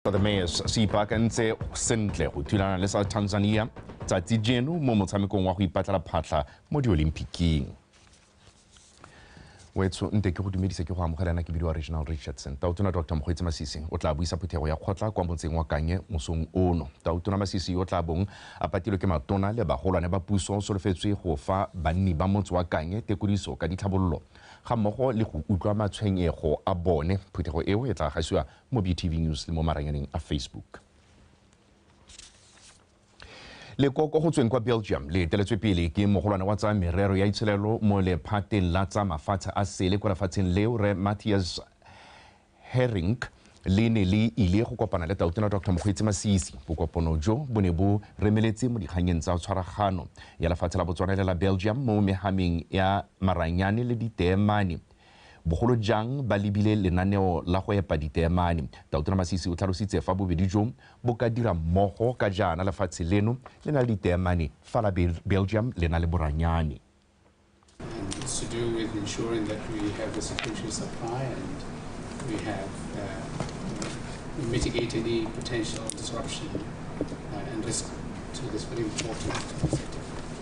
The Mayors se ipaakantse sentle go thulana le sa Tanzania tsatsi jeno mo motshamekong wa go ipatlela phatlha mo diolympiking wetsho nte ke go dumedisa ke go amogela na ke bidiwa regional richardson tautona dr mokgweetsi masisi o tla buisa phuthego ya kgotla kwa motseng wa kanye mosong ono tautona masisi yo tla bong a patilwe ke matona le bagolwane ba puso o solofetswe go fa banni ba motse wa kanye tekodiso ka ditlhabololo ga mmogo le go utlwa matshwenyego a bone phuthego eo e tla gasiwa mo BTV News le mo maranyaneng a Facebook. leko ko go tsweng kwa belgium le eteletswe pele ke mogolwane wa tsa merero ya itshelelo mo lephateng la tsa mafatshe a sele kwa lefatsheng leo re matthias herring le ne le ile go kopana le tautona dr mokgweetsi masisi bokopono jo bo ne bo remeletse mo dikganyeng tsa tshwaragano ya lefatshe la botswana le la belgium mo megameng ya maranyane le diteemane bogolo jang ba lebile lenaneo la go epa diteemane. Tautona Masisi o tlhalositse fa bobedi jo bo ka dira mmogo ka jaana lefatshe leno le na le diteemane fa la Belgium le na le boranyane. And it's to do with ensuring that we have a security supply and we have uh, we mitigate any potential disruption uh, and risk to this very important sector.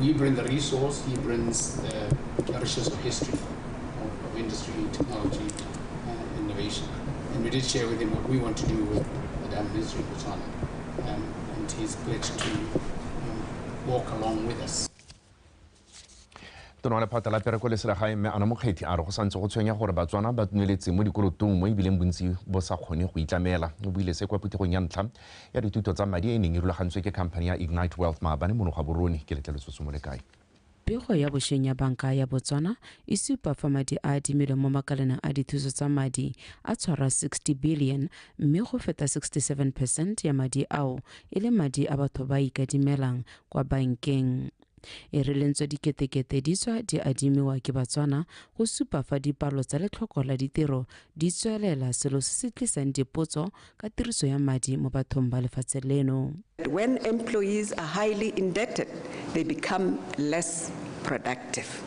We bring the resource, he brings the richness of history, of, of industry, technology, and innovation. And we did share with him what we want to do with the Diamond History Botswana. Um, and he's pledged to um, walk along with us. tona wa lephata la pereko le selegae mme ana mokgethi a re go santse go tshwenya gore batswana ba tneletse mo dikolotong mo ebileng bontsi bo sa kgone go itlamela o buile se kwa phuthegong ya ntlha ya dithuto tsa madi e e neng e rulagantswe ke khamphani ya Ignite Wealth maabane mono Gaborone. Ke letleletswe o simole kae? Pego ya bosheng ya Banka ya Botswana e supa fa madi a adimilweng mo makaleneng a dithuso tsa madi a tshwara 60 billione mme go feta 67 percent ya madi ao e le madi a batho ba a ikadimelang kwa bankeng. E re lentswe diketekete di tswa di adimiwa ke Batswana go supa fa dipalo tsa letlhoko la ditiro di tswelela selo se se tlisang dipotso ka tiriso ya madi mo bathong ba lefatshe leno. When employees are highly indebted, they become less productive.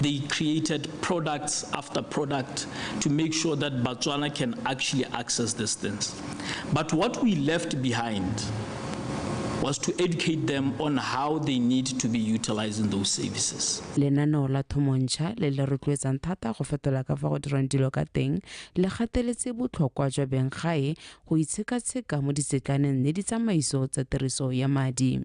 they created products after product to make sure that Batswana can actually access these things. But what we left behind was to educate them on how they need to be utilizing those services. Lenaneo la Thomontsha le le rotloetsang thata go fetola ka fa go dirwang dilo ka teng le gateletse botlhokwa jwa benggae go itshekatsheka mo ditsetlaneng le ditsamaiso tsa tiriso ya madi.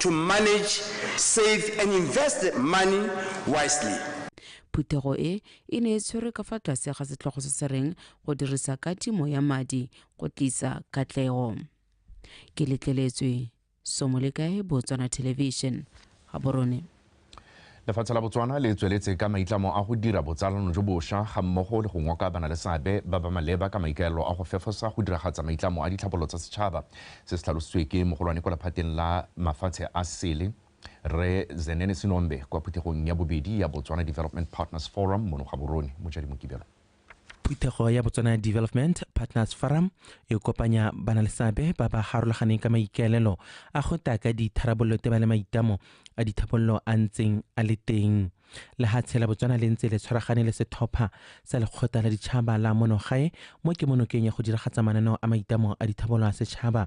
to manage, save and invest the money wisely. Phuthego e e ne e tshwerwe ka fa tlase ga setlhogo se se reng go dirisa katimo ya madi go tlisa katlego. Ke letleletswe Somolekae Botswana Television, Gaborone. Lefatshe la Botswana le tsweletse ka maitlamo a go dira botsalano jo bosha ga mmogo le go ngoka bana le seabe ba ba maleba ka maikaelelo a go fefosa go diragatsa maitlamo a ditlhabololo tsa setšhaba. Se se tlhalositswe ke mogolwane kwa lephateng la mafatshe a sele, Rre Zenene Sinombe kwa phuthegong ya bobedi ya Botswana Development Partners Forum mono Gaborone, Mojadi Mokibelo. phuthego ya botswana development partners forum e kopanya bana le seabe ba ba harologaneng ka maikaelelo a go ta ka ditharabololo te ba le maitamo a dithabololo a ntseng a le teng le ga tshela botswana le ntse le tshwaragane le setlhopha sa lekgotla la ditšhaba la monogae mo ke monokeng ya go diragatsa mananeo a maitamo a dithabololo a setšhaba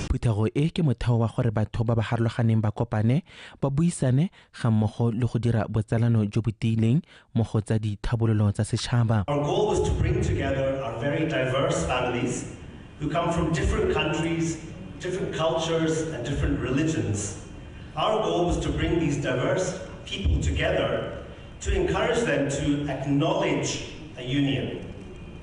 Phuthego e ke motheo wa gore batho ba ba harologaneng ba kopane, ba buisane ga mmogo le go dira botsalano jo bo tiileng mo go tsa dithabololo tsa setšhaba. Our goal was to bring together our very diverse families who come from different countries, different cultures and different religions. Our goal was to bring these diverse people together to encourage them to acknowledge a union.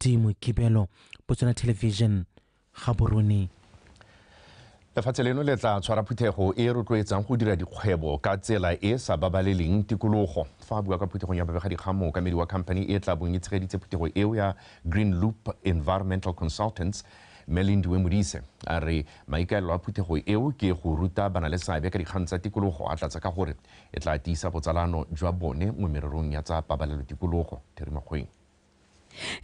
di mokibelo botswana television gaborone lefatshe leno le tla tshwara phuthego e e rotloetsang go dira dikgwebo ka tsela e e sa babaleleng tikologo fa a bua ka phuthegong ya babegadikgang mookamedi wa company e tla bong e tshegeditse phuthego eo ya green loop environmental consultants mme lindiwe modise a re maikaelelo a phuthego eo ke go ruta bana le seabe ka dikgang tsa tikologo a tlatsa ka gore e tla tiisa botsalano jwa bone mo mererong ya tsa pabalelo tikologo therimakgweng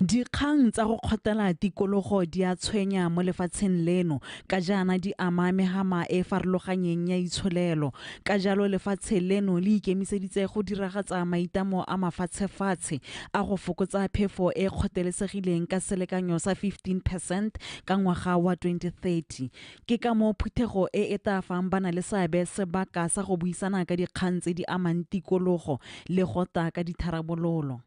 Dikgang tsa go kgotela tikologo di a tshwenya mo lefatsheng leno ka jaana di ama megama e e farologanyeng ya itsholelo. Ka jalo lefatshe leno le ikemiseditse go diragatsa maitlamo a mafatshefatshe a go fokotsa phefo e e kgothelesegileng ka selekanyo sa 15 percent ka ngwaga wa 2030. Ke ka moo phuthego e e tla fang banaleseabe sebaka sa go buisana ka dikgang tse di amang tikologo le go tla ka ditharabololo.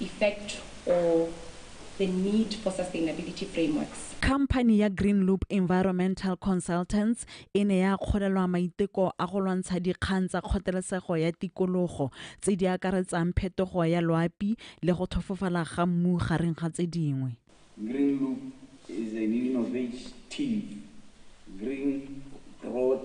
effect or the need for sustainability frameworks. Khamphani ya Greenloop Environmental Consultants e ne ya akgolelwa maiteko a go lwantsha dikgang tsa kgotelesego ya tikologo tse di akaretsang phetogo ya loapi le go thofofala ga mmu gareng ga tse dingwe. Greenloop is an innovative green growth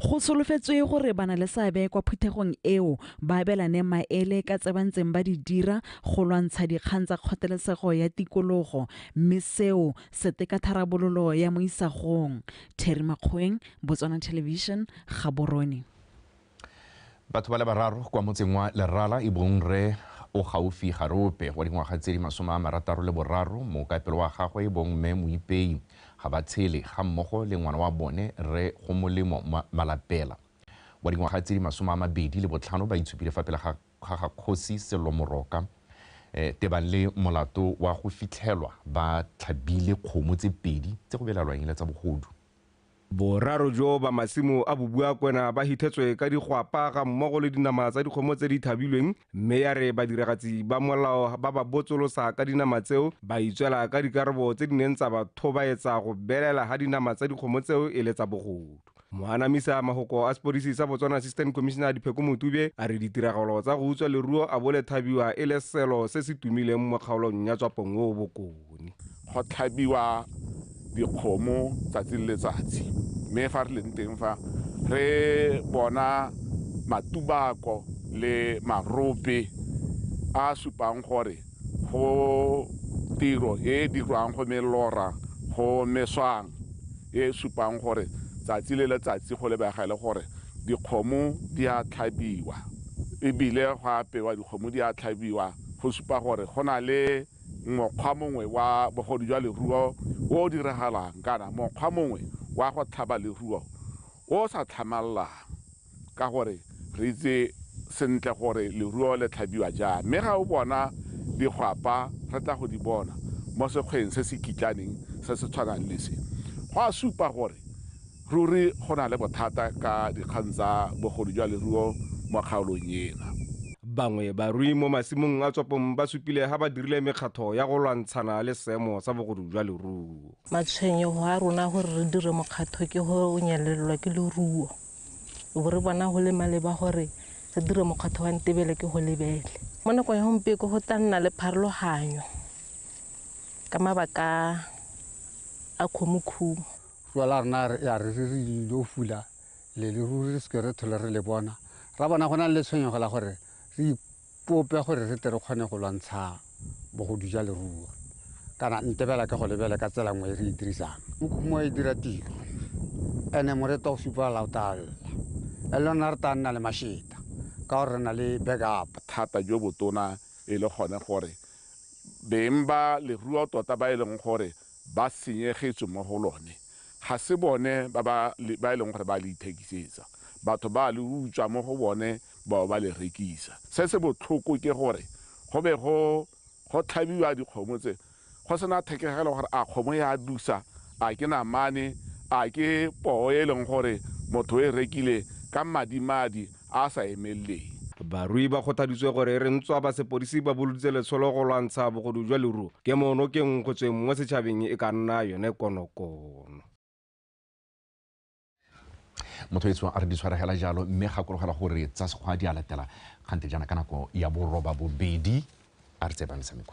Go solofetswe gore ba na le seabe kwa phuthegong eo ba abelane maele ka tse ba ntseng ba di dira go lwantsha dikgang tsa kgothalesego ya tikologo mme seo se teka tharabololo ya mo isagong. Terry Makgoweng, Botswana Television, Gaborone. Batho ba le bararo kwa motseng wa Lerala e bong rre o gaufi Garope wa dingwaga tse di masome a marataro le boraro, mookapelo wa gagwe e bong mme Moipei ga ba tshele ga mmogo le ngwana wa bone rre Gomolemo Malapela wa dingwaga tse di masome a mabedi le botlhano ba itshupile fa pele ga ga kgosi Sello Moroka tebang le molato wa go fitlhelwa ba tlhabile kgomo tse pedi tse go belalwang e le tsa bogodu. Boraro jo ba masimo a Bobuakwena ba hithetswe ka digwapa ga mmogo le dinama tsa dikgomo tse di thabilweng mme ya re badiragatsi ba molao ba ba botsolosa ka dinama tseo ba itswela ka dikarabo tse di neng tsa ba thobaetsa go belela ga dinama tsa dikgomo tseo e le tsa bogodu. Moanamisa magoko a sepodisi sa Botswana Assistant Commissioner Dipheko Motube a re ditiragalo tsa go utswa leruo a bo le thabiwa e le selo se se tumileng mo kgaolong ya Tswapong o o bokone. Go tlhabiwa dikgomo tsatsi le letsatsi mme fa re leng teng fa re bona matubako le marope a a supang gore go tiro e e dirwang go melora go meswang e e supang gore tsatsi le letsatsi go lebega e le gore dikgomo di a tlhabiwa ebile go apewa dikgomo di a tlhabiwa go supa gore go na le mokgwa mongwe wa bogodu jwa leruo o o diragalang kana mokgwa mongwe wa go tlhaba leruo o o sa tlhamalelang ka gore re itse sentle gore leruo le tlhabiwa jang. Mme ga o bona digwapa, re tla go di bona mo sekgweng se se kitlaneng se se tshwanang le se, go a supa gore Ruri go na le bothata ka dikgang tsa bogodu jwa leruo mo kgaolong ena. Bangwe barui mo masimong a Tswapong ba supile ha ba dirile mekgatlho ya go lwantshana le seemo sa bogodu jwa leruo. Matshwenyego a rona gore re dire mokgatlho ke go nyelelelwa ke leruo. Re bo re bona go le maleba gore re dire mokgatlho wa ntebele ke go lebele. Mo nakong ya gompieko go tla nna le pharologanyo ka mabaka a khomokhumo. Puo la rona ya re re dio fula leleruri re seke re thole re le bona. Ra bona go na le tshwenyego la gore re ipope gore re tle re kgone go lwantsha bogodu ja leruo. Kana ntebela ke go lebele ka tsela nngwe e re e dirisang. Mokhumo e dira tiro ene moreto o supa la o talla. E le rona re tla nna le masheta ka gore re na le backup. Bothata jo botona e le gone gore beng ba leruo tota ba e leng gore ba senyegetswe mo go lone, ga se bone ba ba e leng gore ba le ithekisetsa, batho ba a le utswa mo go bone ba bo ba le rekisa. Se se botlhoko ke gore go be go go tlhabiwa dikgomo tse go se na thekegelo gore a kgomo e a dusa, a ke namane, a ke poo e e leng gore motho o e rekile ka madimadi, a a sa emeleleng. Barui ba kgothaditswe gore e re ntswa ba sepodisi ba boloditse letsholo go lwantsha bogodu jwa leruo, kemo nokeng go tsweng mo setšhabeng e ka nna yone konokono. Motho etsho a re di tshwaregela jalo mme gakologela gore tsa sekgwa di a latela kgante jaana ka nako ya boroba bobedi a re tse ba metshameko.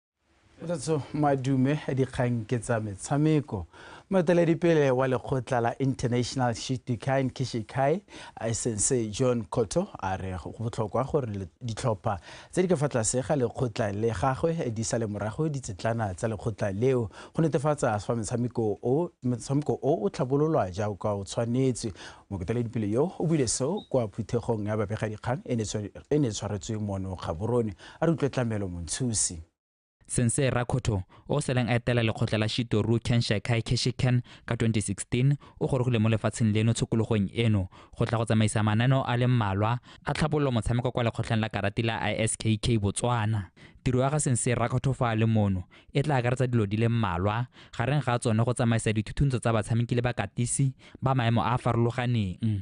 Tsatso madume dikgang ke tsa metshameko moeteledipele wa lekgotla la international shitikai kishikai sensei john cotto a re go botlhokwa gore ditlhopha tse di ka fa tlase ga lekgotla le gagwe di sale morago ditsetlana tsa lekgotla leo go netefatsa fa metshameko o o tlhabololwa jaaka o tshwanetswe moeteledipele yo o buile seo kwa phuthegong ya babegadikgang e ne tshwaretswe mono gaborone A re utlwe tlamelo Montshusi. Sensei Rakhotho, o o seleng a etela lekgotla la Shitoru Kenshikai Keshiken ka 2016, o gorogile mo lefatsheng leno tshokologong eno go tla go tsamaisa mananeo a le mmalwa a tlhabololo motshameko kwa lekgotleng la karati la ISKK Botswana. Tiro ya ga Sensei Rakhotho fa a le mono e tla akaretsa dilo di le mmalwa, gareng ga tsone go tsamaisa dithuthuntso tsa batshameki le bakatisi ba maemo a a farologaneng.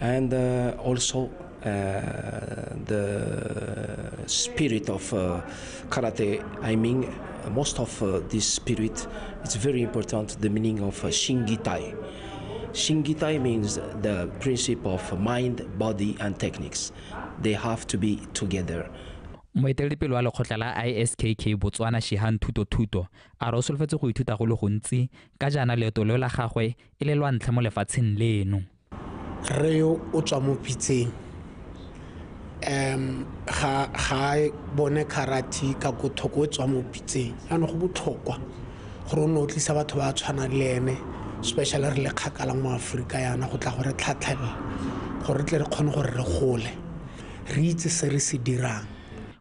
and uh, also uh, the spirit of uh, karate. I mean, most of uh, this spirit is very important. The meaning of shingitai. Shingitai means the principle of mind, body, and techniques. They have to be together. moeteledipele wa lekgotla la iskk botswana shihan thuto thuto a re o solofetse go ithuta go le gontsi ka jaana leeto leo la gagwe e le lwa ntlha mo lefatsheng leno. Rre yo o tswa mo Pitseng um ga ga bone karate ka ko thoko o tswa mo Pitseng jaanong go botlhokwa gore o ne o tlisa batho ba tshwana le ene special re le kgakala mo Aforika yana go tla go re tlhatlhela gore re tle re kgone gore re gole re itse se re se dirang.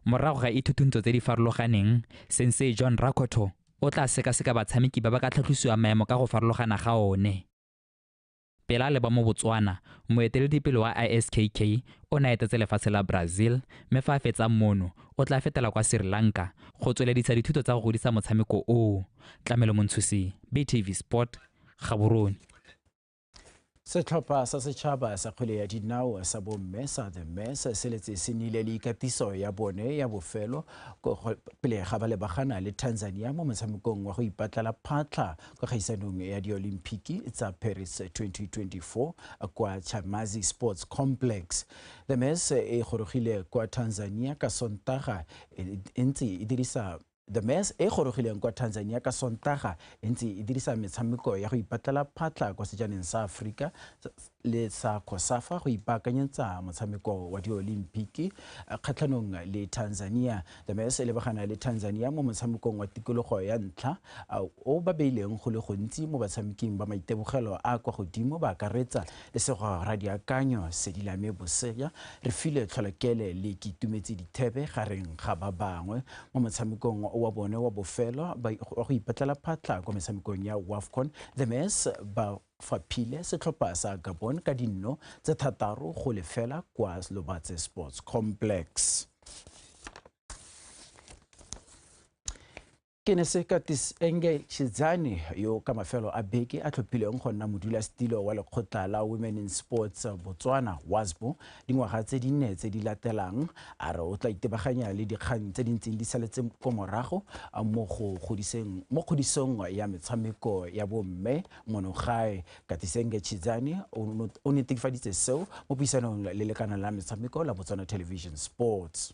Morago ga ithuthuntso tse di farologaneng, Sensei John Rakoto o tla sekaseka batshameki ba ba ka tlhatlhosiwang maemo ka go farologana ga one. Pele a leba mo Botswana, moeteledipele wa ISKK o ne a etetse lefatshe la Brazil mme fa a fetsang mono o tla fetela kwa Sri Lanka go tsweledisa dithuto tsa go godisa motshameko oo. Tlamelo Montshusi, BTV Sport, Gaborone. Setlhopha sa setšhaba sa kgwele ya dinao sa bomme sa The Mess se letse se nile le ikatiso ya bone ya bofelo pele ga ba lebagana le Tanzania mo motshamekong wa go ipatlela phatlha kwa kgaisanong ya diolimpiki tsa Paris 2024 kwa Chamazi Sports Complex. The Mess e gorogile kwa Tanzania ka Sontaga e ntse e dirisa The Mess e e gorogileng kwa Tanzania ka Sontaga e ntse e dirisa metshameko ya go ipatlela phatlha kwa sejaneng sa Aforika le sa Cosafa go ipaakanyetsa motshameko wa diolimpiki kgatlhanong le Tanzania. The Mess e lebagana le Tanzania mo motshamekong wa tikologo ya ntlha o ba beileng go le gontsi mo batshameking ba maitebogelo a kwa godimo ba akaretsa Lesego ra diakanyo Sedilame Bosea re file Tlholokele le Kitumetse dithebe gareng ga ba bangwe mo motshamekong wa bone wa bofelo wa go ipatlela phatlha kwa metshamekong ya WAFCON. The Mares ba faphile setlhopha sa Gabon ka dinno tse thataro go lefela kwa Lobatse Sports Complex. Ke ne se Curtis Enge Chidzani yo ka mafelo a beke a tlhophileng go nna modulasetilo wa lekgotla la Women in Sports Botswana, WASBO, dingwaga tse dinne tse di latelang, a re o tla itebaganya le dikgang tse di ntseng di saletse ko morago mo go godiseng mo kgodisong ya metshameko ya bomme mono gae. Curtis Enge Chidzani o netefaditse seo mo puisanong le lekana la metshameko la Botswana Television Sports.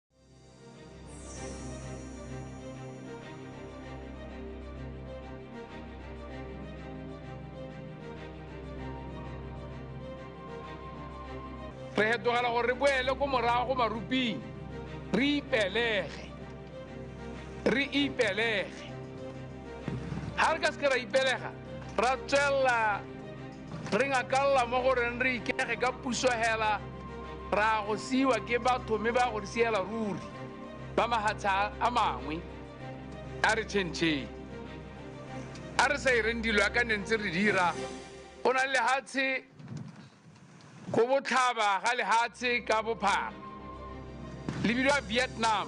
re hetogela gore re boele ko morago go maruping re ipelege re ipelege ga re ka seke ra ipelega ra tswelela Re ngakalla mo go reng re ikege ka puso hela ra go siwa ke batho mme ba go re siela ruri ba mahatsha a mangwe a re chentšheng a re sa ireng dilo ya ka ne ntse re dira o na le lehatshe go botlhaba ga lehatshe ka bophara le bidiwa vietnam